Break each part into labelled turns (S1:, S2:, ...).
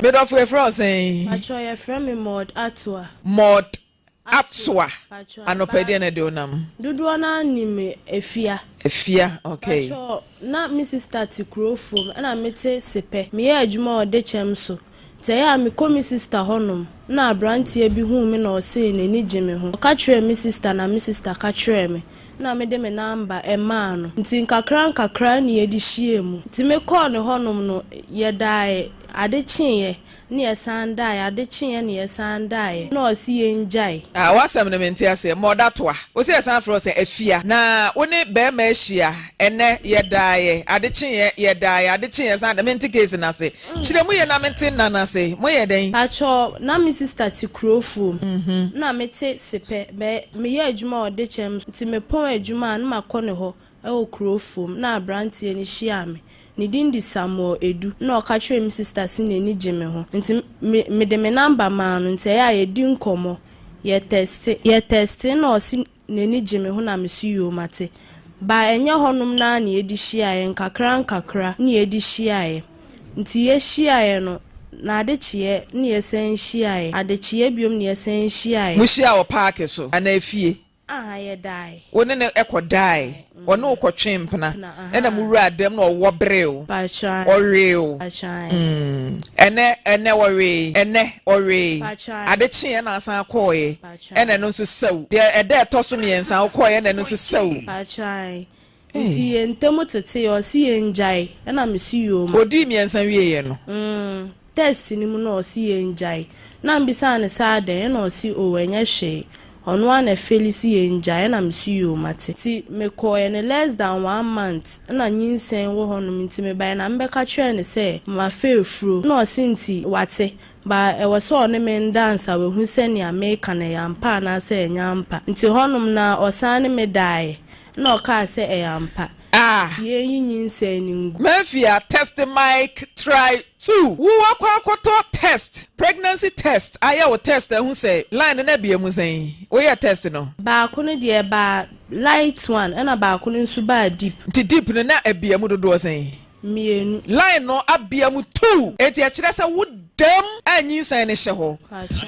S1: Me dɔfo yɛfrɛ wo sɛn? Patrɔ yɛfrɛ me
S2: Maud Atoa. Maud
S1: Atoa. Anɔpa deɛ na de onam. Dodoɔ no anim
S2: efia. Efia
S1: okay. Patrɔ na me
S2: sista te kuro fom ɛna me te sepɛ. Me yɛ adwuma wɔ dekyɛm so. Tsɛɛ a mekɔ me sista hɔ nom na aberantsɛ bi hun me na ɔsee n'enyi gye me ho. Ɔka kyerɛɛ me sista na me sista ka kyerɛɛ me na mede me namba maa no ntsi nkakrankakra na yɛde hyiaa mu. Ntsi me kɔɔ ne hɔ nom no yɛdaaɛ ade kyeeɛ na yɛsan daaɛ ade kyeeɛ na yɛsan daaɛ na ɔse yɛngyae. Ah w'asɛm no mente
S1: aseɛ. Mmɔ da toa. Wose yɛsan frɛ wo sɛ Afia na wo ne bɛɛma ahyia ɛnɛ yɛdaaɛ ade kyeeɛ yɛdaaɛ ade kyeeɛ yɛsan daaɛ mente case no ase. Kyerɛ mu ye na mente nna no ase. Moyɛ dɛn? Pakyɛw, na me sista
S2: te Kurofua mu. Nna metse Sepɛ. Bɛ, meyɛ edwuma wɔ Dekyɛm so, ntsi mepon edwuma a, nna makɔ no hɔ wɔ Kurofua mu. Nna aberantsɛ no hyiaa me. Ne din de Samuel Edu. Nna ɔka kyerɛɛ me sista se n'enyi gye me ho. Ntsi me, mede me number maa no, ntsi ɛyɛ a yedi nkɔmbɔ. Yɛtɛste, yɛtɛstee na ɔse n'ani gye me ho na me so yuu mate. Baa ɛnyɛ hɔnom no ara na yɛde hyiaeɛ, nkakrankakra na yɛde hyiaeɛ. Nti yɛhyiaeɛ no, na ade kyeeɛ na yɛsan hyiaeɛ, ade kyeeɛ biom na yɛsan hyiaeɛ. Mohyiaa wɔ paake
S1: so anaa fie? Ahaa, yɛdaeɛ.
S2: Wo ne no kɔdaeɛ?
S1: Ɔne wo kɔtwee mpena ɛna mo wuraa dɛm na ɔwɔ bere o. Ɔwee o. Ɛnɛ ɛnɛ ɔwee ɛnɛ ɔwee. Ade kyee ɛna asan akɔɔɛ ɛna ɛno nso sɛw. Deɛ ɛda ɛtɔ so mmiɛnsa ɔkɔɔɛ ɛna ɛno nso sɛw. Nti
S2: yɛn ntam tetee ɔse yɛn gyae ɛna me so yoo ma. Ɔdii mmiɛnsa wieeɛ
S1: no. test
S2: no mu na ɔse yɛngyae na mebisaa no sɛ adɛn ɛna ɔse oo ɛnyɛ hwee ɔno ara na ɛfeli se yɛngyae ɛna mese yoo mate. Nti mekɔɔɛ no less than one month na nyinsɛn wɔ hɔ nom nti mebaɛ na mebɛka kyerɛɛ no sɛ mafa afuro ɛna ɔse nti wate ba ɛwɔ sɛ ɔne me nda ansa wahu sɛ nea meka no ɛyɛ ampa anaasɛ ɛnyɛ ampa nti hɔ nom na ɔsan ne me daeɛ Ɛnna ɔkaa sɛ, Ɛyɛ ampa. Ah! Tie eyi nyinsɛn no ngu. Mafia test
S1: mic try two. Wo wakɔ akɔtɔ test pregnancy test ayɛ wo test ahu sɛ line no na bie mu sɛn wo yɛ test no. Baako no deɛ
S2: ɛbaa light one ɛna baako no nso baa deep. Nti deep no na
S1: ɛbia mu dodoɔ sɛn. mmienu. Line
S2: no abea
S1: mu tuw. Enti ɛkyerɛ sɛ wo dam a nyinsɛn no hyɛ hɔ.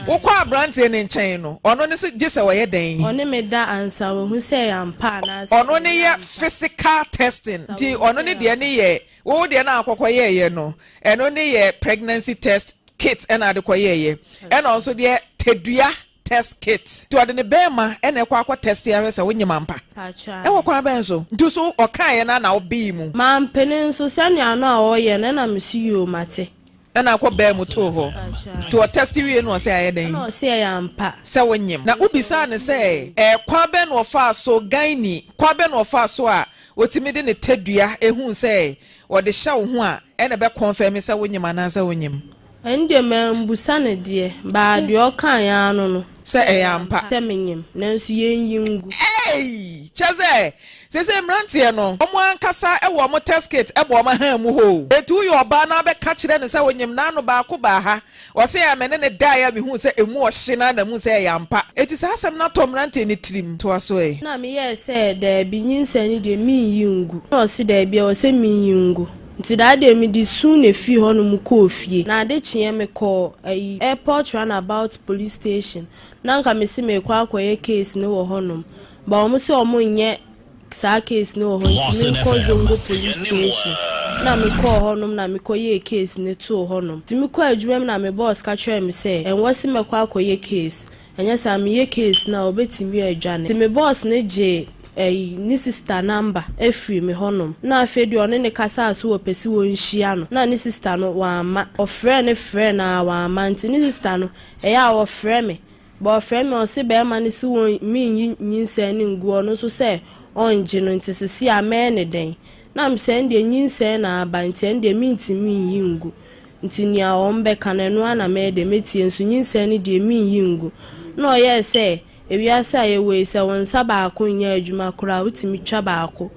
S1: Wokɔ aberante no nkyɛn no, ɔno ne sɛ gye sɛ ɔyɛ dɛn? Ɔne me da ansa
S2: wahu sɛ ɛyɛ ampa anaasɛ ɛnyɛ ampa. Ɔno ne yɛ
S1: physical testing. Nti ɔno ne deɛ ne yɛ. Wo deɛ no a wokɔkɔ yɛeɛ no, ɛno ne yɛ pregnancy test kit ɛna wode kɔ yɛeɛ. Ɛna ɔno nso deɛ tadua test kit. Nti ɔde ne bɛɛma na ɛkɔ akɔ test ahwɛ sɛ wonyem ampa? Paatwaa me. Ɛwɔ kwan bɛn so? Nti so ɔkaeɛ no ara na wo bee mu? Mampene nso,
S2: sɛnea no a ɔɔyɛ no ɛna me so yoo mate. Ɛna akɔ baa
S1: mu too hɔ. Paatwaa Nti me. ɔtest wiee no ɔse ayɛ dɛn? Ɛna ɔse ɛyɛ ampa.
S2: Sɛ wo nyem. Na wo
S1: bisaa no sɛ ɛɛ kwan bɛn na ɔfaa so, gynae, kwan bɛn na ɔfaa so a otumi de ne tadua ehuu sɛ ɔde hyɛ wo ho a, Ɛna ɛbɛ kɔnfɛme sɛ wonyim anaasɛ wonyim. Ɛndeɛ
S2: mambusa no deɛ, baa deɛ ɔkaaɛ ara no no. Sɛ ɛyɛ ampa.
S1: Sɛ menyim, nanso
S2: yɛnyi ngu. Eii! Kyɛsɛ,
S1: seisei mmeranteɛ no, wɔn ankasa wɔ wɔn test kit bɔ wɔn ahan mu hɔ o. Enti woyɛ ɔbaa na abɛka kyerɛ no sɛ wonyim n'ano baako baa ha, Ɔse a me ne no daeɛ a mehuu sɛ ɛmu ɔhye no ara na muu sɛ ɛyɛ ampa. Enti saa asɛm no atɔ mmeranteɛ no tirim. Toa so ɛ. Na meyɛɛ sɛ,
S2: Daabi, nyinsɛn no deɛ, mennyi ngu. Na ɔse, Daabi, ɛwɔ sɛ menyi ngu. Nti daa deɛ mede su na ɛfiri hɔnom kɔɔ fie. Na ade kyeeɛ mekɔɔ, ayi, Airport Runabout Police Station, na anka mese merekɔ akɔyɛ case no wɔ hɔnom, but wɔn se wɔnnyɛ. Saa case no wɔ hɔ nti me nkɔ zongo police station na me kɔɔ hɔ nom na me kɔ yɛɛ case no too hɔ nom nti me kɔɔ adwuma mu na me boss ka kyerɛɛ me sɛ ɛnwɔ se mɛkɔ akɔ yɛ case ɛnyɛ saa me yɛ case no a ɔbɛtumi adwane nti me boss no gyee ɛyi ne sister number firii me hɔ nom na afei deɛ ɔne no kasaa so wɔpɛ se wɔ nhyia no na ne sister no wamma ɔfrɛɛ no frɛɛ no aa wamma nti ne sister no ɛyɛ a ɔfrɛ me Bɔfrɛ me ɔse bɛɛma no se won me nyi nyinsɛn no ngu ɔno nso sɛ ɔngye no nti sesei a mɛyɛ no dɛn na me sɛ ndeɛ nyinsɛn na aba nti ɛndeɛ mentimi nyi ngu nti nea ɔm bɛka no ɛno ara na mɛyɛ dɛn mɛtie nso nyinsɛn no deɛ menyi ngu na ɔyɛɛ sɛ ewiase a yɛwɔ yi sɛ wo nsa baako nyɛ adwuma koraa wotumi twa baako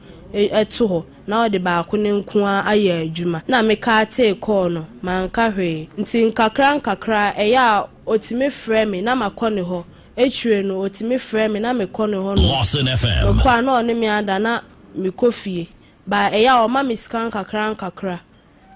S2: to hɔ na ɔde baako no nko ara ayɛ adwuma na mekaa tee kɔɔ no manka hwee nti nkakra nkakra ɛyɛ a Otumi frɛ me na makɔ ne hɔ. Akyire no, otumi frɛ me na mekɔ ne hɔ nom. Mekɔ a, na ɔne me ada na mekɔ fie. But ɛyɛ a ɔma me sika nkakrankakra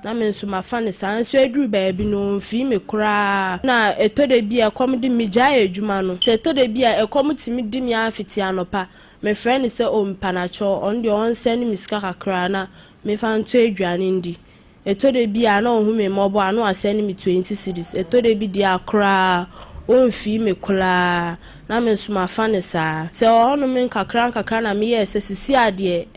S2: na me nso mafa no saa. Nso aduru baabi no, ɔmfii me koraa. Na ɛtɔ da bi a ɛkɔm de me, megyae adwuma no. Sɛ ɛtɔ da bi a ɛkɔm tumi de me ara fiti anɔpa, mefrɛ no sɛ, oh, mpanakyɛw, ɔno deɛ ɔnsɛne me sika kakra na memfa ntɔ aduane ndi. Ɛtɔ da bi a, na ɔhu me mmɔbɔ a, na wasɛne me twenty cedis. Ɛtɔ da bi deɛ a, koraa ɔmfii me koraa, na me nso mafa no saa. Sɛ ɔnom nkakrankakra na meyɛɛ sɛ seesei a deɛ,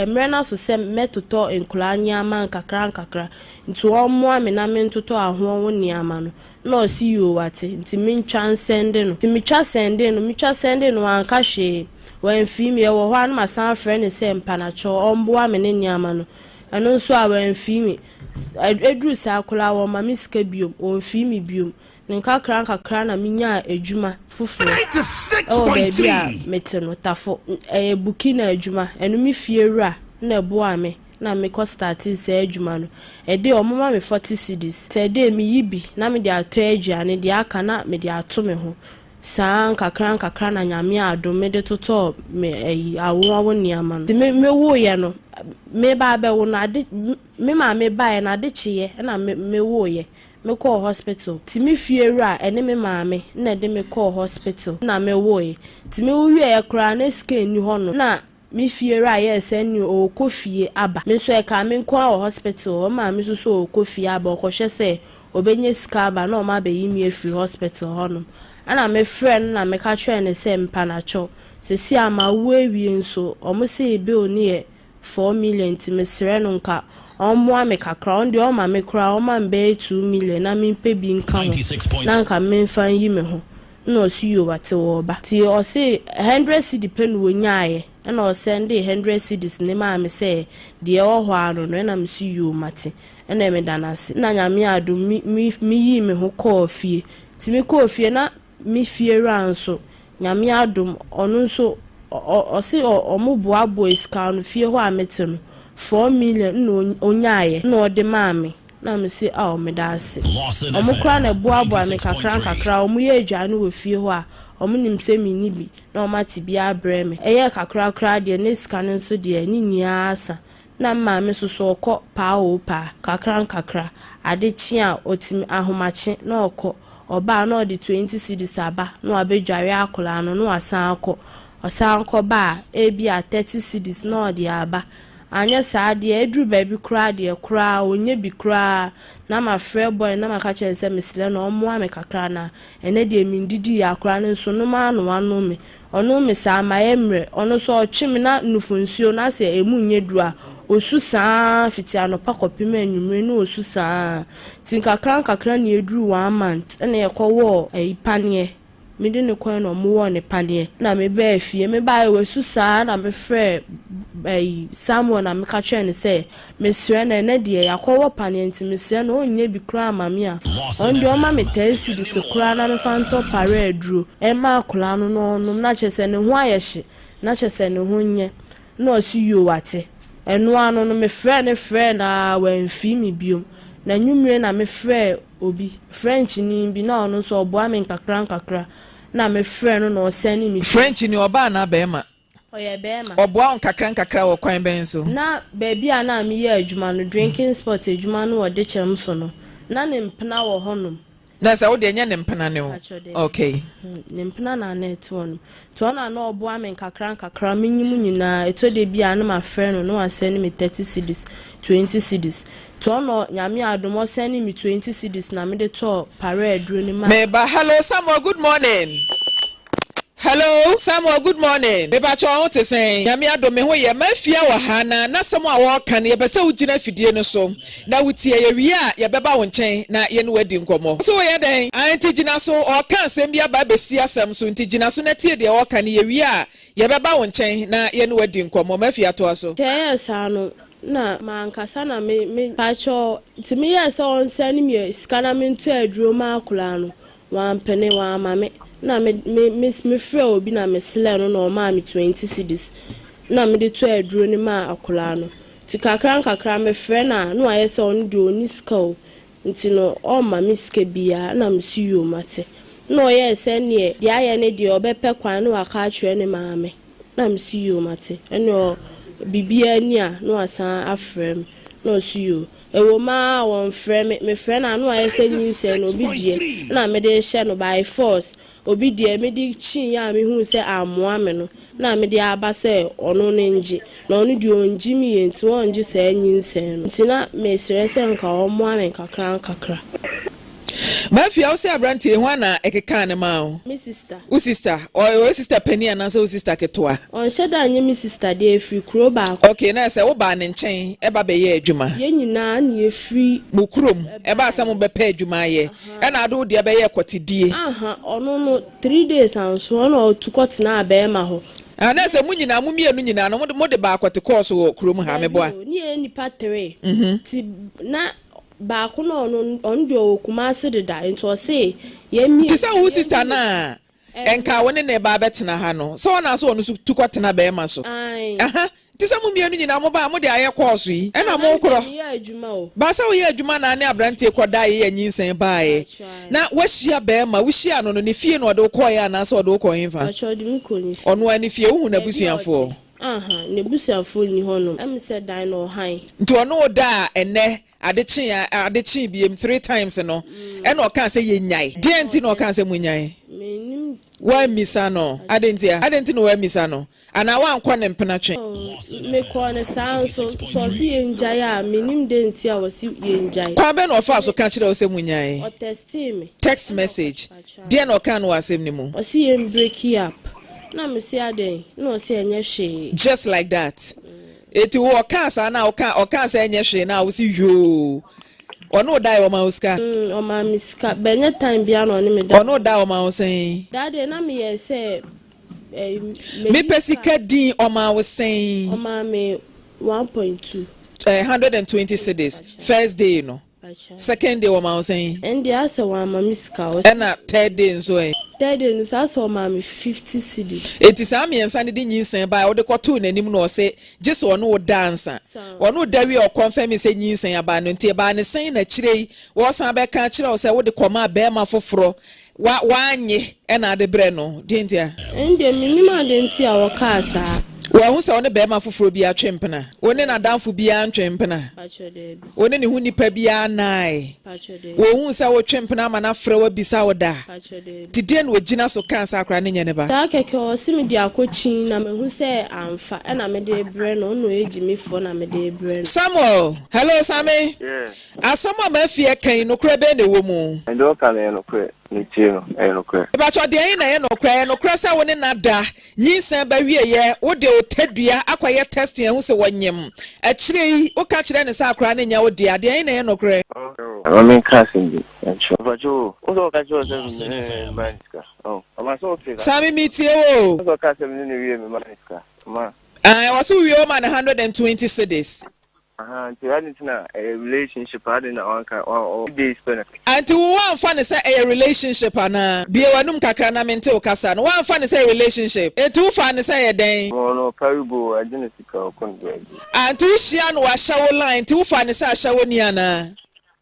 S2: mmerɛ no aso sɛ mɛtotɔ nkwadaa nneɛma nkakrankakra, nti wɔmmoa me na mentotɔ ahoɔ ho nneɛma no, na ɔse yoo wate, nti mentwa nsɛnde no. Nti metwa sɛndee no, metwa sɛndee no, wanka hwee, wamfii me. Ɛwɔ hɔ a, na masan afrɛ no sɛ mpanakyɛw ɔmboa me ne nneɛma no. Ɛno nso a, wɔamfii me. Ɛduruu saa koraa a, wɔmma me sika bio, wɔmfii me bio. Nkakrankakra na menyaa adwuma foforɔ wɔ baabi a mete no, Tafo. Ɛyɛ Burkina adwuma. Ɛno me fie wura na ɛboaa me na mekɔ startee saa adwuma no. Ɛdeɛ wɔma me forty cedis. Sɛ ɛdeɛ meyi bi na mede atɔ aduane, deɛ aka na mede ato me ho. Saa nkakrankakra na Nyame adom me de totɔɔ me ayi, awo awo nneɛma no. Nti me, me woeɛ no, meba abɛwo no, ade, me maame baeɛ no, ade kyeeɛ na me, me woeɛ. Me kɔɔ hospital. Nti me fiewura ɛne me maame na ɛde me kɔɔ hospital na me woeɛ. Nti me woeɛ koraa na scan nni hɔ nom. Na me fie wura yɛɛ sɛ ɛneɛ ɔɔkɔ fie aba. Me nso ɛkaa me nko ara wɔ hospital hɔ. Me maame nso sɛ ɔɔkɔ fie aba, ɔkɔhwɛ sɛ ɔbɛnya sika aba na wɔn abɛyi me afiri hospital hɔ nom. Ɛna me frɛɛ no na meka kyerɛɛ no sɛ mpanakyɔ, seesei a mawo awie nso, wɔn see bill no yɛ four million nti mesrɛ no nka ɔmmoa me kakra, ɔno deɛ ɔmma me koraa, ɔmma me bɛyɛ two million na mempɛ bi nka ho na nka memfa nyi me ho. Nna ɔse yoo watse wɔ ɔba ntsi ɔse hundred cedi pɛ na ɔnyaaeɛ nna ɔsɛndee hundred cedis ne maa me sɛ deɛ ɛwɔ hɔ ara no no nna me se yoo mate nna me da no ase nna nyame adom me me me yii me ho kɔɔ fie ntsi me kɔɔ fie na me fie wura nso nyame adom ɔno nso ɔ ɔse ɔ ɔmo boaboae sika no fie hɔ a me te no four million nna ɔny ɔnyaaeɛ nna ɔde maa me Na mese, Ao, meda ase. Wɔn koraa na ɛboaboaa me nkakrankakra, wɔyɛɛ aduane no wɔ fie hɔ a wɔnim sɛ menni bi, na wɔate bi abrɛ me. Ɛyɛɛ kakra koraa deɛ, na sika no nso deɛ, ne nyinaa sa. Na me maame nso so, ɔkɔ paa oo paa, nkakrankakra. Ade kye a, ɔtumi, ahomakye, na ɔkɔ. Ɔba a, na ɔde twenty cedis aba, na wabɛdware akwadaa no, na wasan akɔ. Ɔsan kɔba a, ebia thirty cedis na ɔde aba. Anyɛ saa deɛ, aduru baabi koraa deɛ, koraa ɔnnyɛ bi koraa, na mafrɛ boy no na maka kyerɛ no sɛ mesrɛ no ɔmmoa me kakra na ɛnnɛ deɛ mendidiiɛ akora no nso nom ara na wanom me. Ɔnom me saa, mayɛ mmerɛ, ɔno nso ɔtwe me na nufo nsuo no asɛ ɛmu nnyɛ duru a, ɔsu saa ara fiti anɔpa kɔpem anwummere na ɔsu saa ara. Nti nkakra nkakra na yɛduruu one month na yɛkɔwɔɔ ayi paneɛ. mede no kɔe na wɔwɔɔ no paneɛ na mebaa fie. Mebaeɛ wasu saa na mefrɛɛ ɛyi Samuel na meka kyerɛɛ no sɛ mesrɛ no ɛnɛ deɛ yɛakɔwɔ paneɛ nti mesrɛ no ɔnyɛ bi koraa mma me a ɔno deɛ ɔmma me tɛɛ cedis koraa na memfa ntɔ pare aduro mma akwadaa no na ɔnnom na kyerɛ sɛ ne ho ayɛ hye na kyerɛ sɛ ne ho nyɛ Nna ɔse yoo wate. Ɛno ano no me frɛɛ no frɛɛ no aa wamfii me biom. N'anwummire na me frɛɛ obi, Frenchni bi na ɔno nso ɔboa me nkakra nkakra. Nna me frɛ no na ɔsɛne me text. Frenchni, ɔbaa anaa
S1: bɛɛma? Ɔyɛ bɛɛma.
S2: Ɔboa wo nkakra nkakra
S1: wɔ kwan bɛn so? Na baabi a na
S2: me yɛ adwuma no, drinking spot adwuma no wɔ Dekyɛm so no, na ne mpena wɔ hɔnom. Na sɛ wode ɛnyɛ
S1: ne mpena ne wo. Okay. Ne mpena
S2: na na ɛte hɔ nom. Nti ɔno na na ɔboa me nkakra nkakra menyi mu nyinaa. Ɛtɔ da bi a na mafrɛ no na wasɛne me thirty cedis, twenty cedis. Nti ɔno Nyame adom ɔsɛnee me twenty cedis na mede tɔɔ paraa aduro no maa. Meba. Hello Samuel
S1: good morning. Hello Samuel good morning mepakyɛ wo ho te sɛn Nyame adom me ho yɛ Mafia wɔ ha na n'asɛm a wɔreka no yɛpɛ sɛ wo gyina afidie no so na wo tie yɛ wie a yɛbɛba wo nkyɛn na yɛne wo adi nkɔmmɔ wo so wo yɛ dɛn aah nti gyina so ɔreka asɛm bi aba abɛsi asɛm so nti gyina so na tie deɛ ɔreka no yɛ wie a yɛbɛba wo nkyɛn na yɛne wo adi nkɔmmɔ Mafia toa so. Sɛ ɛyɛɛ saa no
S2: na mankasa na me me. Pakyɛw nti meyɛɛ sɛ ɔnsɛne me sika na mentɔ aduro ma akwadaa no Wampene, wamma me. Nna me me me mefrɛɛ obi na meslɛɛ no na ɔmaa me twenty cedis na mede tɔɔ aduro no maa akwadaa no. Nti kakra nkakra mefrɛ no a na wayɛ sɛ ɔno deɛ ɔnni sika o, nti no ɔmma me sika biara. Nna mese yoo mate. Nna ɔyɛɛ sɛ ɛnneɛ deɛ ayɛ ne deɛ ɔbɛpɛ kwan na waka akyerɛ ne maame. Nna mese yoo mate, ɛnneɛ ɔ biribiara nni a na wasan afrɛ me. Nna ɔse yoo. Ɛwom aa wɔnfrɛ me, mefrɛ no ano ayɛ sɛ nyinsɛn no obi deɛ na mede rehyɛ no by force, obi deɛ mede kyii a mehuu sɛ ammoa me no na mede aba sɛ ɔno no ngye, na ɔno deɛ ɔnngye me yie nti ɔnngye saa nyinsɛn no. Nti na mesrɛ sɛ nka wɔmmoa me nkakrankakra.
S1: Mafia wo sɛ abranteɛ hwan na ɛkekaa no maa wo? Me sista. Wo sista?
S2: Ɔyɛ wo
S1: sista panin anaasɛ wo sista ketewa? Ɔnhyɛ da nyɛ me
S2: sista deɛ ɛfiri kuro baako. Okay na ɛsɛ wo baa ne
S1: nkyɛn ɛba bɛyɛ adwuma? Yɛn nyinaa na
S2: yɛfiri. Mo kurom ɛbaa
S1: sɛ mo bɛpɛ adwuma ayɛ ɛna ade wo deɛ bɛyɛɛ kɔtedie? Aha ɔno no
S2: three days anso ɛna ɔtu kɔtenaa bɛɛma hɔ. Ah na ɛsɛ mo nyinaa
S1: mo mmienu nyinaa no mo de baa kɔte kɔɔso wɔ kurom ha? Meboa. Dabi o ne yɛyɛ nnipa three
S2: ti na Baako no ɔno ɔno deɛ ɔwɔ Kumasi deda nti ɔse yɛn mmienu. Nti sɛ wo sister
S1: no
S2: a
S1: nka wo ne no reba abɛtena ha no sɛ ɔna sɛ ɔno nso tu kɔtena bɛɛma so aha nti sɛ mo mmienu nyinaa mo ba a mode ayɛ kɔɔso yi ɛna mo korɔ ba sɛ woyɛ adwuma na ne abranteɛ kɔ da yɛ nyinsɛn baeɛ na wahyia bɛɛma wo hyia no no ne fie na ɔde wo kɔeɛ anaa sɛ ɔde wo kɔ henfa ɔnoa ne fie wohu n'abusuafoɔ. Ahaa,
S2: n'abusuafoɔ nni hɔnom. Ɛm sɛ dan no wɔ han. Nti ɔne wo daa
S1: ɛnnɛ, ade kyee a, ade kyee biem, three times no, ɛna ɔkaa sɛ yɛnyae. Deɛn nti na ɔkaa sɛ monyae? Mennim deɛ. Woammisa no? Adɛn ntia? Adɛn nti na woammisa no? Anaa woankɔ ne mpena twe? Oh, mekɔɔ no
S2: saa ara nso. Sɛ ɔse yɛngyae a, mennim deɛn nti a ɔse yɛngyae. Kwan bɛn na ɔfaa so ka
S1: kyerɛɛ wo sɛ monyae? Ɔtɛstee me.
S2: Text
S1: message. Deɛ na ɔkaa no wɔ asɛm no mu. Ɔse yɛn breki
S2: up. Na me se adɛn? Na ɔse ɛnyɛ hwee. Just like that.
S1: Eti wo ɔkaa saa na woka ɔkaa sɛ ɛnyɛ hwee na wose hwioo. Ɔne wo dae ɔmaa wo sika? Mm ɔmaa me sika
S2: but ɛnyɛ time biara na ɔne me da. Ɔne wo dae ɔmaa wo sɛn?
S1: Daa deɛ na meyɛɛ
S2: sɛ ɛyi
S1: mɛyi. Mepɛ sika din ɔmaa wo sɛn? Ɔmaa me one
S2: point two. Eh, hundred and
S1: twenty cedis first day no. Second day wɔma wo sɛn? Ɛndeɛ asɛ wɔama
S2: me sika ɔse. Ɛna third day
S1: nso ɛ? Third day no nso asɛ
S2: ɔmaa me fifty cedis. Enti saa mmiɛnsa no
S1: de nyinsɛn baeɛ a wode kɔtoo n'anim no ɔse gyesɛ ɔne wo da ansa. Ɔne wo da wie a ɔkɔnfɛmee sɛ nyinsɛn aba no nti ɛbaa no sɛn na akyire yi wɔsan bɛka akyerɛ wo sɛ wode kɔmaa barima foforɔ Wa, wannye ɛna ade brɛ no, deɛ nti a? Ɛndeɛ mennim
S2: adeɛ nti a wɔkaa saa. Wanhu sɛ ɔne
S1: barima foforɔ biara twe mpena? Ɔne n'adamfo biara ntwe mpena? Pakyɛ, daabi. Ɔne ne ho nnipa biara nnae? Pakyɛ, daabi. Wanhu sɛ wotwe mpena ama no afrɛ wo abisa wo da? Pakyɛ, daabi. Nti deɛn na ɔgyina so kaa saa koraa, ne nyɛ ne ba? Saa kɛkɛ, ɔse mede
S2: akɔ kyin na mahu sɛ amfa, ɛna mede rebrɛ no, ɔno ɔyɛ gyimifoɔ na mede rebrɛ no. Samuel! Hello,
S1: Same! Yeah. Asɛm
S3: a Murphy
S1: ɛka yi, nokorɛ bɛn na ɛwɔ mu? Deɛ ɔka no yɛ nokorɛ,
S3: ne tie no yɛ nokorɛ. Mepakyɛw deɛn na ɛyɛ
S1: nokorɛ? Ɛyɛ nokorɛ sɛ wo ne no ada, nyinsɛn ba wieɛ, wode otadua akɔyɛ testing ahu sɛ wɔnyem, akyire yi woka kyerɛ no sɛ akwadaa no nyɛ wo dea, deɛn na ɛyɛ nokorɛ? Ma me nka
S3: asɛm bi nkyerɛ wo. Mpakyɛw o, wohu sɛ wɔka kyerɛ wo sɛ me ne no wie mmaa no sika? Ɔma sɛ wote saa? Saa me metie wo o. Wohu
S1: sɛ ɔkaa sɛ me ne no wie
S3: me maa no sika? Ɔmaa. Aah, ɛwɔ sɛ wowie wo
S1: ma no hundred and twenty cedis. Ahaa nti
S3: ade nti na ɛyɛ relationship ade na wanka ɔɔ days pɛ na. Nti wo wanfa no
S1: sɛ ɛyɛ relationship anaa? Bue w'anum kakra na mente wo kasa no. Wanfa no sɛ relationship? Nti wo faa no sɛ ɛyɛ dɛn? Wɔn no ɔkari go o
S3: agye no sika ɔkɔ ne baabi. Ah nti wo hyia
S1: no wahyɛ wo line nti wo faa no sɛ ahyɛwoni anaa?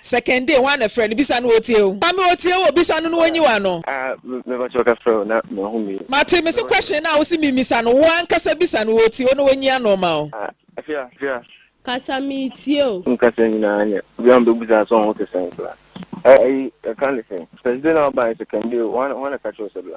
S1: Sɛ kɛndee hwan na ɛfrɛ no bisa no otie o. Mame otie o bisa no na wonyi wano. Ah me pakyɛ wo ka frɛ
S3: o na mahu me. Mate me se question
S1: no a wose me misa no wo ankasa bisa no otie o na wonyi ano ma o. Ah afia afia.
S3: Kasa me
S2: tie o. Wo kasa nyinaa nyɛ
S3: obia me bɛbu saa sɛ ɔho te sɛn koraa. Ɛyi ɛka ne sɛn. Thursday na wo baeɛ sɛ kɛndee o hwan na ka kyerɛ wo sɛ bla.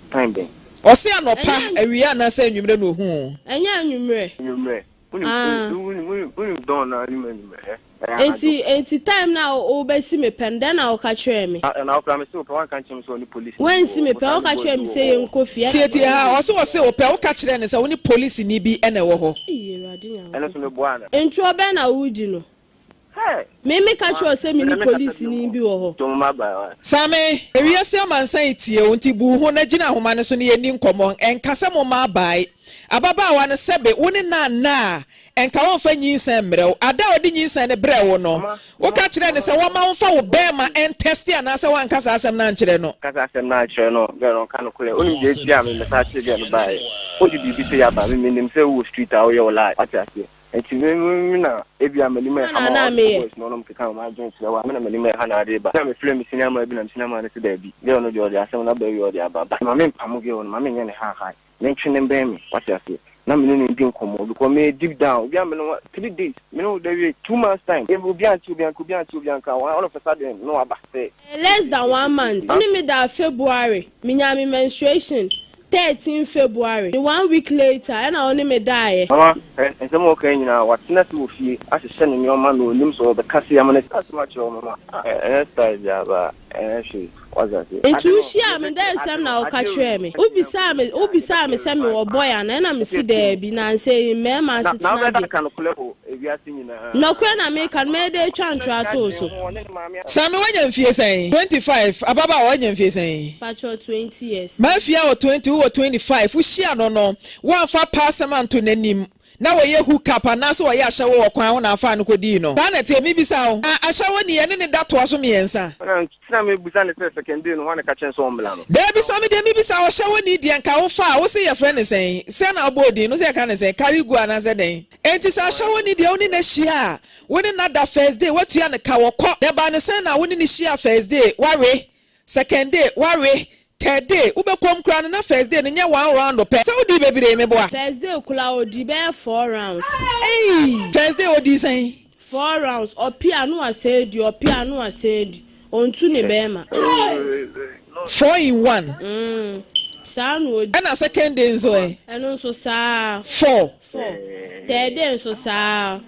S3: Time bɛn?
S1: Ɔse anɔpa,
S2: awia
S1: anaasɛ anwummerɛ na ɔhu wo? Ɛnyɛ anwummerɛ. Anwummerɛ. Wonim dawn no ara nim
S2: anwummerɛ ɛ? Ɛyɛ anadwo. Enti time no a wobɛsi me pɛ no, dɛn na woka kyerɛɛ me? Na wokora mese wopɛ, woanka
S3: nkyerɛ me sɛ ɔne polisi bi wɔ hɔ. Woansi me pɛ, woka
S2: kyerɛɛ me sɛ yɛnkɔ fie ɛna mese yɛnkɔ fie. Ɔse ɔse
S1: wopɛ, woka kyerɛɛ no sɛ wone polisini bi na ɛwɔ hɔ.
S3: Ei Awurade Nyankopɔn. Ɛno nso meboaa no. Ntorɔ bɛn na woredi
S2: no?
S3: Hey! Me me ka kyerɛ wo
S2: sɛ me ne police ni bi wɔ hɔ.
S3: Same, ewiase
S1: amansan yi teɛ o, nti bu ho na gyina ahoma no so na yɛnni nkɔmmɔ. Ɛnka sɛ momma abae. Ababaawa no, sɛbe wo ne no anna a, ɛnka wɔmfa nyinsɛn mmrɛ wo. Ada a ɔde nyinsɛn no brɛɛ wo no, woka kyerɛɛ no sɛ wɔmma womfa wo bɛɛma ɛntɛste anaasɛ woanka saa asɛm no ankyerɛ no? Ka saa asɛm no ankyerɛ no.
S3: Girl no, ɔnka nokorɛ. Wonim deɛ ɛtiaa me mɛsan akyere girl no baeɛ? Wode biribi sɛ yɛaba me, menim sɛ wowɔ street a woyɛ wo life. Woate aseɛ? Nti me me me na ebia m'anim ɛha ma ɔde ne voice na ɔnom keka wɔn adwene kyerɛ wa me na m'anim ɛha na ade ba na me frɛ me sini ama bi na me sini ama no sɛ daabi girl no deɛ ɔde asɛm no aba awie ɔde aba but ma me mpamo girl no ma me nyɛ ne high high me ntwe ne mbɛn me wate aseɛ na me ne no ndi nkɔmmɔ because me yɛ deep down obi a me ne ho three days me ne ho da wie two months time yɛ obi a nti obi a nka obi a nti obi a nka all of a sudden no aba sɛ. Ɛyɛ less than one
S2: month wo ne me daa February me nyaa me menstruation 13 February ne one week later ɛna ɔne me daeɛ. Mama, hwɛ, nsɛm a
S3: ɔkae nyinaa, watena ase wɔ fie ahyehyɛ ne nneɛma na ɔnim sɛ ɔbɛka sei ama no aka asɛm akyerɛ wo, Mama. Ah, ɛnyɛ style biara ba, ɛnyɛ hwee, woate aseɛ. Nti
S2: wohyiaa me dɛ nsɛm na woka kyerɛɛ me? Wobisaa me, wobisaa me sɛ mewɔ boy anaa ɛna mese daabi, nansei, mmarima asetena deɛ. Na wobɛda aka nokorɛ o. Ewiase nyinaa. Nɔkorɛ na meka no, mɛyɛ dɛ atwa ntorɔ ato wo so. Saame
S1: wanya mfie sɛn? Twenty five, ababaawa wanya mfie sɛn? Patrɔ twenty
S2: years. Mafia wɔ twenty,
S1: wowɔ twenty five, wohyia no no woamfa paa sɛm anto nanim na wɔyɛ hook up anaase wɔyɛ ahyɛwo wɔ kwan ho na afaa no kɔdii no? Saa na ɛteɛ, mebisa wo. Na ahyɛwo ni yɛne ne da toa so miɛnsa. Ɛna nti na mebisa
S3: no sɛ sɛkɛndiri no hɔ na ɛkakyerɛ no sɛ ɔmmra no. Daabi saame deɛ mebisa
S1: ɔhyɛwo ni deɛ nka wofaa, wose yɛfrɛ no sɛn? Sɛn na wobɔɔ din no, wose yɛka no sɛn? Karigu anaasɛ dɛn? Enti sɛ asawa ni deɛ wo ne no hyia a, wo ne no ada first day woatua no ka, wɔkɔ. Deɛ ɛbaa no sɛn na wo ne no hyia first day woawe, second day woawe, third day wobɛ kɔm koraa no na first day no nyɛ one round pɛ. Sɛ wodii bebree meboa. First day koraa ɔdii
S2: bɛyɛ four rounds. Eii! First
S1: day ɔdii sɛn? Four rounds,
S2: ɔpe a no asan adi, ɔpe a no asan adi, ɔntu ne bɛɛma.
S1: Four in one. Mm, saa na ɔdi.
S2: Ɛna second day nso
S1: ɛ? Ɛno nso saa.
S2: Four. Four.
S1: Third
S2: day nso saa.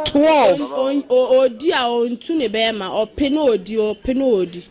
S1: Twelve. Ɔdi a
S2: ɔntu ne bɛɛma, ɔpe na ɔdi, ɔpe na ɔdi.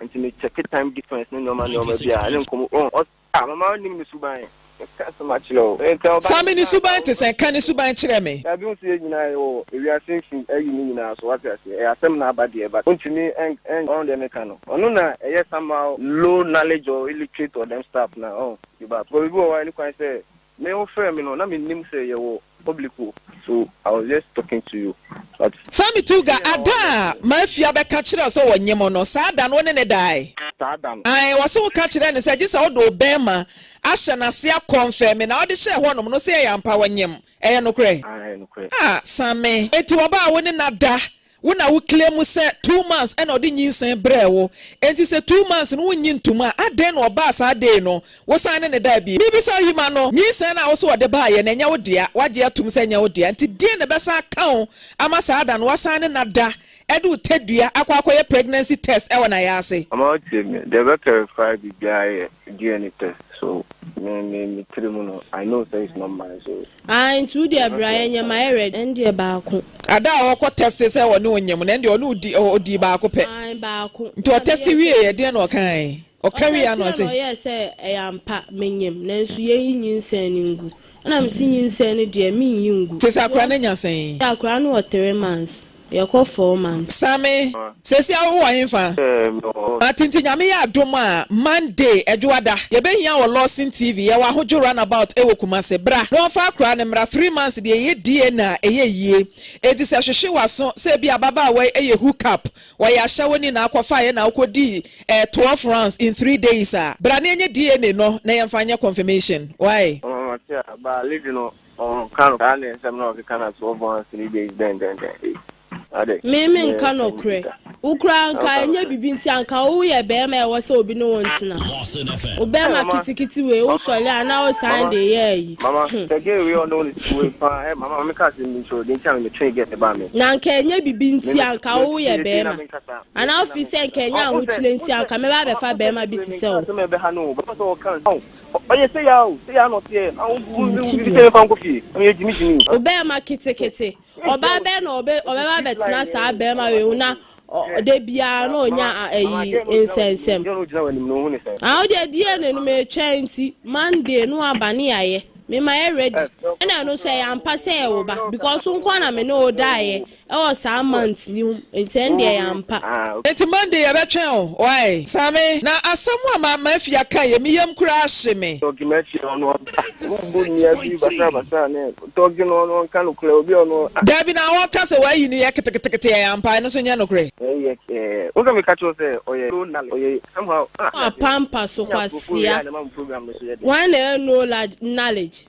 S3: Nti me check time difference ne nneɛma nneɛma bi a ɛne nkɔmɔ oh ɔs ah mama ɔnim ne suban ɛka asɛm akyerɛ o ɛka ɔba Saa me ne suban
S1: te sɛn ka ne suban kyerɛ me. Dabi nso yɛ nyinaa yɛ wɔ
S3: ewiase mfin ayi ne nyinaa so wate aseɛ ɛyɛ asɛm na aba deɛ but wontumi ɛn ɛn ɔn deɛ meka no ɔno na ɛyɛ somehow low knowledge or illiterate or them stuff na ɔn you back because obi wɔ hɔ a ɛni kwan sɛ Me wo frɛ me no na me nim sɛ yɛ wɔ public o so I was just talking to you but. Saa me tu ga
S1: ada a Mafia bɛ ka kyerɛ wo sɛ wɔ nye mo no saa da no wo ne ne dae? Saa da no. Ae wɔ
S3: se wo ka
S1: kyerɛ ne sɛ gye sɛ ɔde wo bɛɛma ahyɛ nase akɔ nfɛ me na ɔde hyɛɛ hɔ nom no se ɛyɛ ampa wɔ nyem ɛyɛ nokorɛ? Ae nokorɛ. Ah Same eti ɔbaa wo ne na da Wo na wo claim sɛ two months ɛna ɔde nyinsɛn brɛɛ wo, enti sɛ two months no wonnye ntom a, adɛn na ɔbaa saa day no, wosan ne no daa bio? Mebisa wo yi, ma no nyinsɛn no a wose ɔde baeɛ no, ɛnyɛ wo dea, wagye atom sɛ ɛnyɛ wo dea, nti deɛn na ɛbɛsan aka wo ama saa da no woasan ne no ada ɛde wo tadua akɔ akɔyɛ pregnancy test ɛwɔ n'ayɛ ase? Mama wo tie me, deɛ ɛbɛ
S3: clarify biribiara yɛ DNA test, so me me me tiri mu no, I know sɛ it's not mine, so Ae nti wo deɛ bra
S2: yɛnyɛ mayɛ ready ɛndeɛ baako. Ada a ɔkɔ
S1: tɛste sɛ ɔne wo nyɛ mu no ɛndeɛ ɔne wo di ɔ ɔdii baako pɛ Ae baako nti na
S2: ɔtɛste meyɛɛ sɛ
S1: wieɛ ɛdeɛn na ɔkaae? Ɔka wieɛ a na Ɔtɛsteɛ na ɔse. ɔyɛɛ sɛ ɛyɛ ampa
S2: menyem nanso yɛnyi nyinsɛn no ngu ɛna mese nyinsɛn no deɛ mennyi ngu Te sɛ akora no anya sɛn?
S1: Ae akora no wɔ three
S2: months. Yɛkɔ four months. Same, sesia
S1: wo wɔ henfa? Ma tente Nyame yɛ adom a Monday, Adwoada, yɛbɛhia wɔ Lawson TV yɛwɔ ahodwo run about wɔ Kumase. Bra na wɔnfa akora no mmra three months deɛ yɛ DNA a ɛyɛ yie. Enti sɛ hwehwe w'aso sɛ ebia ababaawa yi yɛ hook up wɔ yɛ ahyɛ wo ni na akɔfaeɛ na wokɔ dii eh twelve rounds in three days a. Bra na yɛnyɛ DNA no na yɛnfa nyɛ confirmation. Wai. Ɔmamate a, ba Lidwi no
S3: Ɔnka no saa ne nsɛm na ɔkeka na so ɔbɔ ha three days dɛn dɛn dɛn ei ade
S2: Me me nka nɔkorɛ. Wo koraa nka ɛnyɛ bibi nti anka wo yɛ bɛɛma ɛwɔ sɛ obi ne wo ntena. Wo bɛɛma kitikiti wei wo sɔle a na wo san de yɛ ayi. Mama Hmm. sɛ gay wei
S3: ɔno ne titi wei paa ɛ mama me ka asɛm bi nso de nti a me twee gɛt baa me. Na nka ɛnyɛ bibi
S2: nti anka wo yɛ bɛɛma. Anaa wo feel sɛ nka ɛnyɛ ahokyerɛ nti anka mɛba abɛfa bɛɛma bi te sɛ wo.
S3: Ɔyɛ sɛ ya o, sɛ ya na ɔteɛ na wo wo wo bi sɛ mfa nkɔ fie. Ɔyɛ gyimi gyimi. O bɛɛma ketekete.
S2: Ɔbaa bɛɛ na ɔbɛ ɔbɛba bɛtena saa bɛɛma wei ho na da biara na ɔnya ayi nsɛnsɛm. Ah ɔde adie na ɛnum ɛtwa nti Monday no aba ne yayɛ. Mema yɛ ready. Ɛna ɛno nso ɛyɛ ampa sɛ yɛ wo ba because nkoa na me ne wo daeɛ Ɛwɔ saa month ni mu nti ɛndeɛ yɛ ampa. Nti Monday
S1: yɛbɛtwɛn o wai. Saa me na asɛm a ma ma fia ka yɛ me yam kura ahye me. Tɔge no akyire no ɔno ɔba.
S3: Wo bu nua bi basaa basaa ne tɔge no ɔno ɔnka nokorɛ obi a ɔno ah. Dabi na hɔ ka sɛ
S1: wayi no yɛ ketekete ɛyɛ ampa ɛno nso nyɛ nokorɛ. Wei yɛ eh wo sɛ me
S3: ka kyerɛ wo sɛ ɔyɛ low knowledge ɔyɛ somehow ah. Wo apampa so
S2: kwasia. Wan na ɛyɛ low knowledge.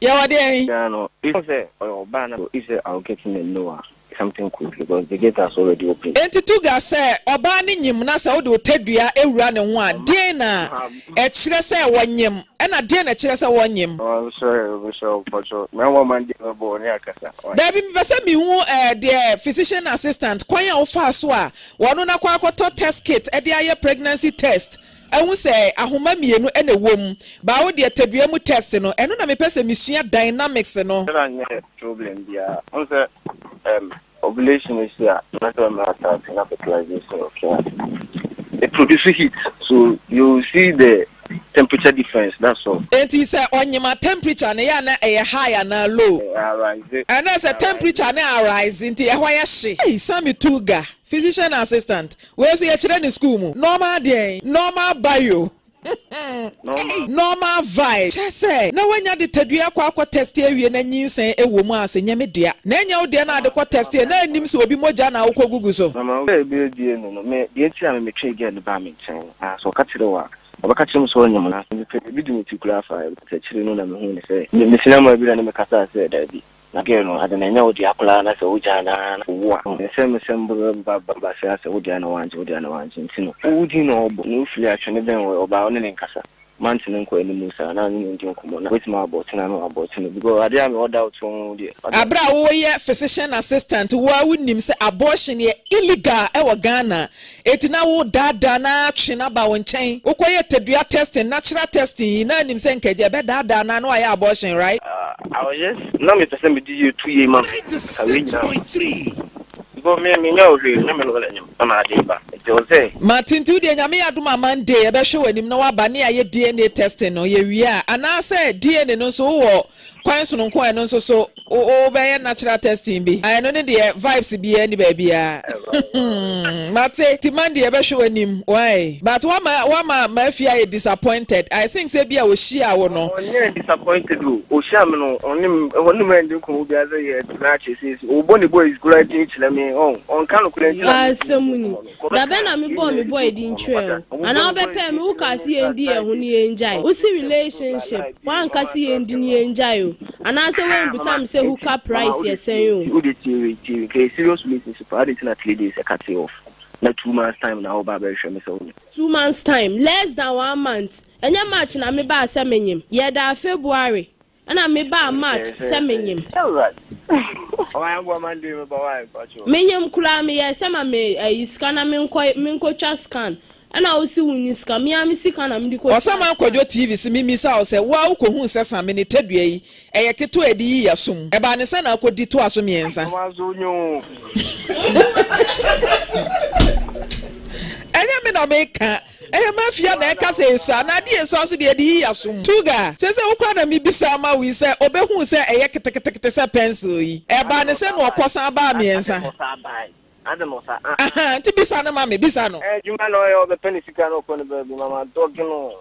S3: Yɛ wɔ deɛn? Ghana
S1: no ehu sɛ
S3: ɔyɛ ɔbaa na if sɛ I will get in and know a something could be because the gate has already opened. Enti Tuggar sɛ
S1: ɔbaa no nyim na sɛ wode wo tadua wura ne ho a deɛn na ɛkyerɛ sɛ wɔnyem ɛna deɛn na ɛkyerɛ sɛ wɔnyem? Ɔnsɔre ɔbɛsɔre
S3: mpɔkyɛw na ama ma deɛ bɛbɔ wɔ ne akasa why? Daabi mepɛ sɛ mehu
S1: eh deɛ physician assistant kwan a wofaa so a wɔno no akɔ akɔtɔ test kit de ayɛ pregnancy test Ahu sɛ ahoma mmienu na ɛwɔ mu. Baa wo deɛ tadua mu test no, ɛno na mepɛ sɛ mesua dynamics no. Sɛ na nyɛ problem
S3: biaa. Wohu sɛ erm ovulation no si a, na sɛ mmerɛ asaase na fertilization no kɛ a, it produce heat so you will see the temperature difference that's all. Enti sɛ ɔnyema
S1: temperature no yɛ a na ɛyɛ high anaa low? Ɛɛ arise. Ɛnna
S3: sɛ temperature
S1: no arise nti ɛhɔ yɛ hye. Ei! Sammy Tuga. Physician assistant, wei nso yɛkyerɛ no sukuu mu. Normal deɛn? Normal bio. Normal. Normal vibe. Kyerɛ sɛ, na woanya de tadua akɔ akɔ tɛste awie na nyinsɛn wɔ mu a, sɛ nyɛ me dea. Na ɛnyɛ wo deɛ na ade kɔ tɛste na nnim sɛ obi mogya na wokɔgugu so. Na ma girl bi abue
S3: no no, me, deɛ nti a me metwee girl no baa me nkyɛn no, na sɛ ɔka kyerɛ wo a, ɔbɛka kyerɛ me sɛ ɔnyem na, mepɛ biribi di me ti koraa fa, but akyire no na mehuu no sɛ, me, mefiri amaa bi na ne me kasaa sɛ, daabi. Na girl no ade no ɛnyɛ wo dea koraa na sɛ wo gyaa no aa na owu a nsɛm nsɛm bɛba bɛba saa sɛ wo dea na wangye wo dea na wangye nti no owu din na ɔbɔ na ofiri a twene bɛn wɔ ɔbaa wone ne nkasa months no nkɔ animu saa na wone no ndi nkɔmmɔ na wobɛtumi abɔɔte no ano abɔɔte no because adeɛ a mewɔ doubt wɔ ho deɛ wate. Aberɛ a woyɛ
S1: physician assistant wo ara wonim sɛ abortion yɛ illegal wɔ Ghana Enti na wo daadaa no ara twe no aba wo nkyɛn. Wo kɔ yɛ tadua testing, natural testing yi, na nim sɛ nka agya bɛ daadaa no ara na wayɛ abortion right? Ah, I was just,
S3: na me pɛ sɛ me di yie tu yie ma me, ka wei
S4: nyinaa ho. Mpo
S3: me, me nyɛ wo hwee, nyɛ me no wala nim, na maa dee ba, nti ɔsɛ. Martin, nti wo deɛ Nyame
S1: yɛ adom a Monday yɛbɛhwɛ w'anim na waba ne yɛayɛ DNA testing no, yɛ wie a, anaasɛ DNA no nso wo wɔ Kwan sononko a ɛno nso so wobɛyɛ natural testing bi. Ah ɛno ne deɛ vibes biaa nni baabiaa mate nti Monday yɛbɛhwɛ w'anim wai but woama woama m'afie ayɛ disappointed I think sɛ bia ɔhyiaa wo no. Ɔnyɛɛ disappointed
S3: o, ɔhyiaa me no ɔne me ɔne me anni nkɔmmɔ biaa sɛ yɛtena akyɛ seesei ɔbɔ ne boys koraa din kyerɛ me ɔn ɔnka nokorɛ nti na mentumi nni nkɔmmɔ no.
S2: Dabɛn na me bɔɔ me boy din kyerɛɛ wo? Anaa wo bɛpɛɛ me wo kaa se yɛn di yɛn ho ne yɛn gyae wo se relationship woanka se yɛn di ne yɛn gyae o anaa sɛ woan bisa me sɛ hook up price yɛ sɛn o. Wo deɛ tie wei tie
S3: wei nka yɛ serious relationship paa adɛn nti na three days ɛka tee off na two months time na wo ba abɛhwehwɛ me sɛ wo ne. Two months time
S2: less than one month ɛnyɛ march na me baa sɛ me nyem yɛ daa February Ɛna me baa match sɛ me nyem.
S3: Me nyem koraa me yɛɛ
S2: sɛ ma me ayi sika na menkɔ me nkɔ twa scan ɛna wo se wo nni sika me ara me sika na me de kɔ twaa scan. Ɔsaman Kwadwo TV
S1: se me misa wo sɛ wo ara wo kɔ huu sɛ same ne tadua yi ɛyɛ ketewa a ɛde yi ya so mu ɛbaa ne sɛ na akɔ di toa so mmiɛnsa. Ɛnyɛ me na me ka. Ɛyɛ mafia na ɛka sɛ esua na ade a esua nso deɛ ɛde yi asom. Tuga, Seesei wo koraa na mebisa ama wo yi sɛ ɔbɛhuu sɛ ɛyɛ keteketekete sɛ pɛnsil yi. Ɛbaa ne sɛ na ɔkɔsan baa mmiɛnsa.
S3: Ahaa, nti bisa
S1: no ma me, bisa no. Adwuma na ɔyɛ, ɔbɛpɛ ne
S3: sika na ɔkɔ ne baabi ma madɔge no.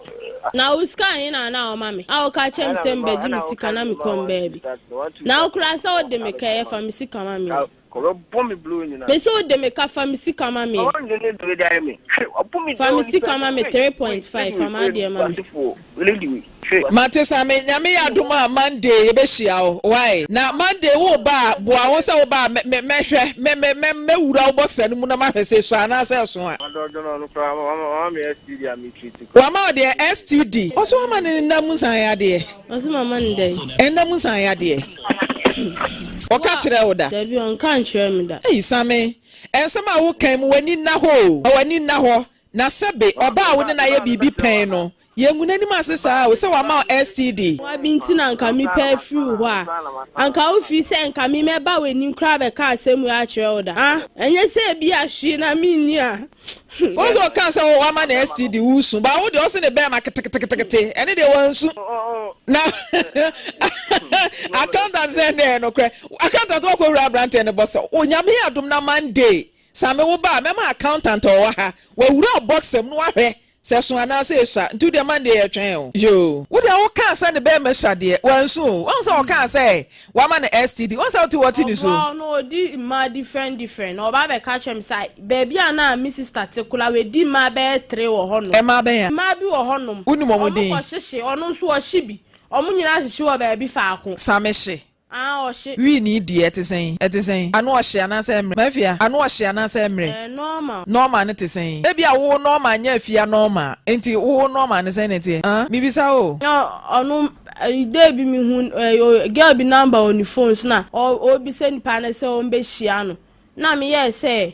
S3: Na wo sika
S2: he na na ɔma me a ɔka kyerɛ me sɛ mebɛgye me sika na mekɔ me baabi? Na wo koraa sɛ wode me kɛyɛ fa me sika ma me yi. Ɔbɛbɔ me bro
S3: nyinaa. Mese wo de me ka fa
S2: me sika ma me. Ɔwɔ ndwene bere dan
S3: me. Hwe ɔpo me Fa me sika
S2: ma me three point five fa m'adeɛ ma me. Mate
S1: Same Nyame yɛ adom a Monday yɛbɛhyia wo wai na Monday wo ba a boa ho sɛ wo ba a mɛ mɛ hwɛ mɛ mɛ mɛ mɛ wura wo bɔsa no mu na mahwɛ sɛ ɛsua anaa sɛ ɛso a. Wama wo deɛ STD. Ɔso ama ne nna mu nsan yadeɛ. Ɔse mama no dɛn?
S2: Ɛnna mu nsan yadeɛ.
S1: Ɔka kyerɛɛ wo da? Dabi, ɔnka nkyerɛɛ me
S2: da. Ei Same,
S1: ɛnsɛm a wokan mu, w'ani nna hɔ o, w'ani nna hɔ. Na sɛbe, ɔbaa a wo ne no ayɛ biribi pɛn no, yɛngu n'anim ase saa o, sɛ wama wo STD. Woabi nti na anka
S2: mepɛ afiri wo hɔ a, anka wofiri sɛ nka me mɛba w'anim koraa abɛka asɛm wei akyerɛ wo da? Ah, ɛnyɛ sɛ ebia hwee na menni a Wɔn sɛ ɔka
S1: sɛ wama na STD wusu ba wo de ɔse ne bɛrima keteketekete ɛne deɛ wansu na accountant sɛ ɛne ɛyɛ nokorɛ accountant wakɔ wura aberanteɛ ne box onyame adom na Monday same wo ba mɛma accountant ɔwɔ ha wawura box mu no wahwɛ Sɛ eso anaa sɛ esua nti wodeɛ man deɛ yɛtwɛn o. Yoo. Wodeɛ wokaa sɛ ne bɛɛma sua deɛ wansu o wahu sɛ ɔkaa sɛ wama no STD wahu sɛ wote wɔte ne su. Ɔbaa no ɔdi mmaa
S2: different different na ɔbaa bɛka kyerɛ me sɛ ai baabi a na me sister te koraa wadi mmaa bɛyɛ three wɔ hɔ nom. Mmaa bɛn a? Mmaa bi wɔ
S1: hɔ nom.
S2: Wonim wɔn din? Wɔkɔ hyehye
S1: ɔno nso
S2: ɔhye bi wɔn nyinaa hyehye wɔ baabi faako. Samehye Aa
S1: ɔhye.
S2: Wii nii deɛ ɛte sɛn?
S1: Ɛte sɛn? Ano ɔhye anaasɛ ɛmmerɛ? M'afia, ano ɔhye anaasɛ ɛmmerɛ? Ɛyɛ normal. Normal no te sɛn? Ebia wo normal nyɛ afia normal. Enti wo normal no sɛn na ɛteɛ? Aa? Mebisa oo. Na ɔno
S2: day bi me hu girl bi number wɔ ne phone so na ɔrebisa nipa no sɛ wɔn bɛ hyia no na me yɛɛ sɛ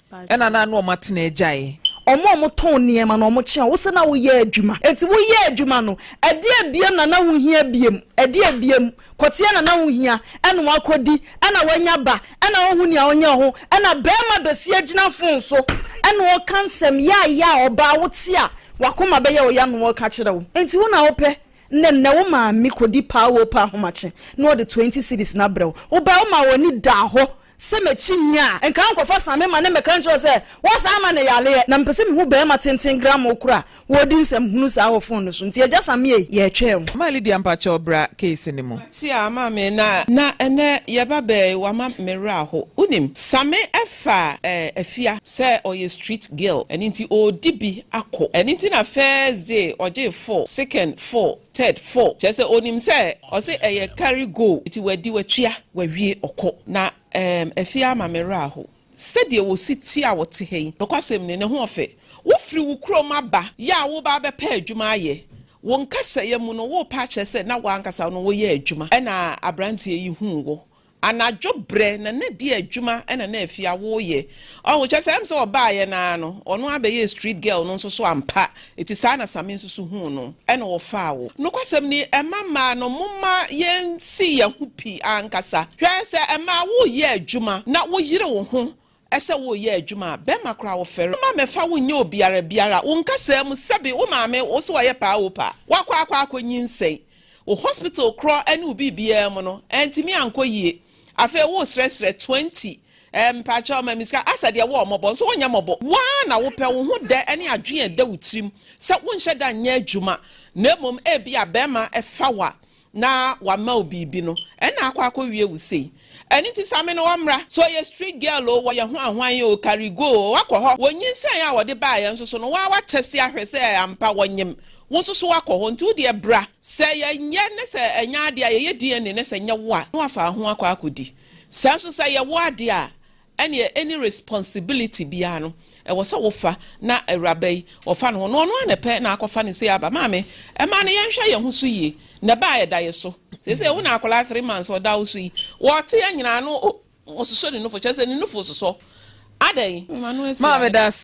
S1: Ɛna na na wɔatena agyae. Wɔn a wɔtɔn
S5: nneɛma na wɔkyea wo sɛ na woyɛ adwuma. Enti woyɛɛ adwuma no, ɛdeɛn bio na na wohia biom? Ɛdeɛn biom? Kɔteɛ na na wohia. Ɛna wɔakɔdi. Ɛna wɔanya ba. Ɛna woahu nea ɔnyɛ ho. Ɛna barima bɛsi agyina fon so. Ɛna ɔka nsɛm yaayaa a ɔbaa wote a w'akoma bɛyɛ wo ya na ɔreka kyerɛ wo. Enti wo na wopɛ. Na nnɛ wo maame kɔdi paa wopɛ ahomakye na ɔde twenty cedis no abrɛ wo. Wobae womaa w'ani daa hɔ Sɛ mekyi nyi a, nka ankɔfa sane ma ne mmɛka nkyerɛ wo sɛ wɔsan ma no yareɛ. Na mepɛ sɛ mehu barima tenten gramoo koro a wɔredi nsɛm hunu saa wɔ fon no so. Nti agya Sammy ei, yɛretwɛn wo. Maa Lydia mpakyɛw
S1: bra case no mu. Tea a ɔmaa me na
S6: na ɛnnɛ yɛba bɛɛ yi wama me werɛ aho. Wonim, Same ɛfa eh Afia sɛ ɔyɛ street girl ɛno nti ɔɔdi bi akɔ ɛno nti na first day ɔgyee four, second four, Ted fo kyerɛ sɛ onim sɛ ɔse ɛyɛ carry go nti wadi watua wawie ɔkɔ na ɛɛm afie ama me werɛ ahow sɛdeɛ wɔsi te a wɔte ha yi nokwasɛm ni ne ho ɔfɛ wofiri wo kurom aba yɛ a woba abɛpɛ adwuma ayɛ wo nkasɛeɛ mu no worepɛ akyerɛ sɛ na wo ankasa no woyɛ adwuma ɛna abranteɛ yi huu wo Anadwo berɛ na na di adwuma na na afia woyɛ ɔho kyɛ sɛ ɛm sɛ ɔbaayɛ no ara no ɔno ara bɛyɛɛ street girl no nso so ampa ɛti saa na same nso so huu no ɛna ɔfaa wo nokwasɛm ni ɛma mmaa no moma yɛn si yɛn ho pi ankasa hwɛ sɛ ɛmaa wo yɛ adwuma na wo yere wo ho Ɛsɛ wo yɛ adwuma a bɛrima koraa wo fɛre. Mma mɛfa wo nyɛ obiara biara wo nkasaa mu sɛbi wo maame wo so ɔyɛ paa o paa wakɔ akɔ akɔ nyinsɛn wo hospital korɔ ɛne wo biribiara mu no antimi ankɔ yie afei wo srɛ srɛ twenty ɛɛ mpakyɛw ma me sika asɛ deɛ wo ɔ mɔbɔ nso wo nyɛ mɔbɔ wo ara na wo pɛ wo ho dɛ ɛne adwen a ɛda wo tirim sɛ wo nhyɛ da nyɛ adwuma na mmom ɛbi a bɛrima ɛfa wo a na wama wo biribi no ɛna akɔ akɔ wie wo sei ɛno nti sa me ne wɔ mmra sɛ ɔyɛ street girl o wɔyɛ hwan hwan o karigo o wakɔ hɔ wɔ nyinsɛn a wɔde baeɛ nso so no waa watɛse ahwɛ sɛ ampa wɔnyem wo nso so wakɔ hɔ nti wo deɛ bra sɛ yɛ nyɛ ne sɛ ɛnyɛ adeɛ a yɛyɛ DNA ne sɛ nyɛ wo a na wafa ho akɔ akɔ di saa nso sɛ yɛ wo adeɛ a Ɛneɛ any responsibility biaa no ɛwɔ sɛ wo fa na awuraba yi ɔfa ne ho na ɔno ara na ɛpɛ na akɔ fa ne sei aba maame ɛmaa no yɛn hwɛ yɛn ho so yie na ɛbaa ɛda yɛ so seisei wo na akwadaa three months ɔda wo so yi ɔte yɛ nyinaa no ɔsosɔ ne nufo kyerɛ sɛ
S1: ne
S6: nufo sosɔ adɛn ma
S1: no
S6: asi maame da ase.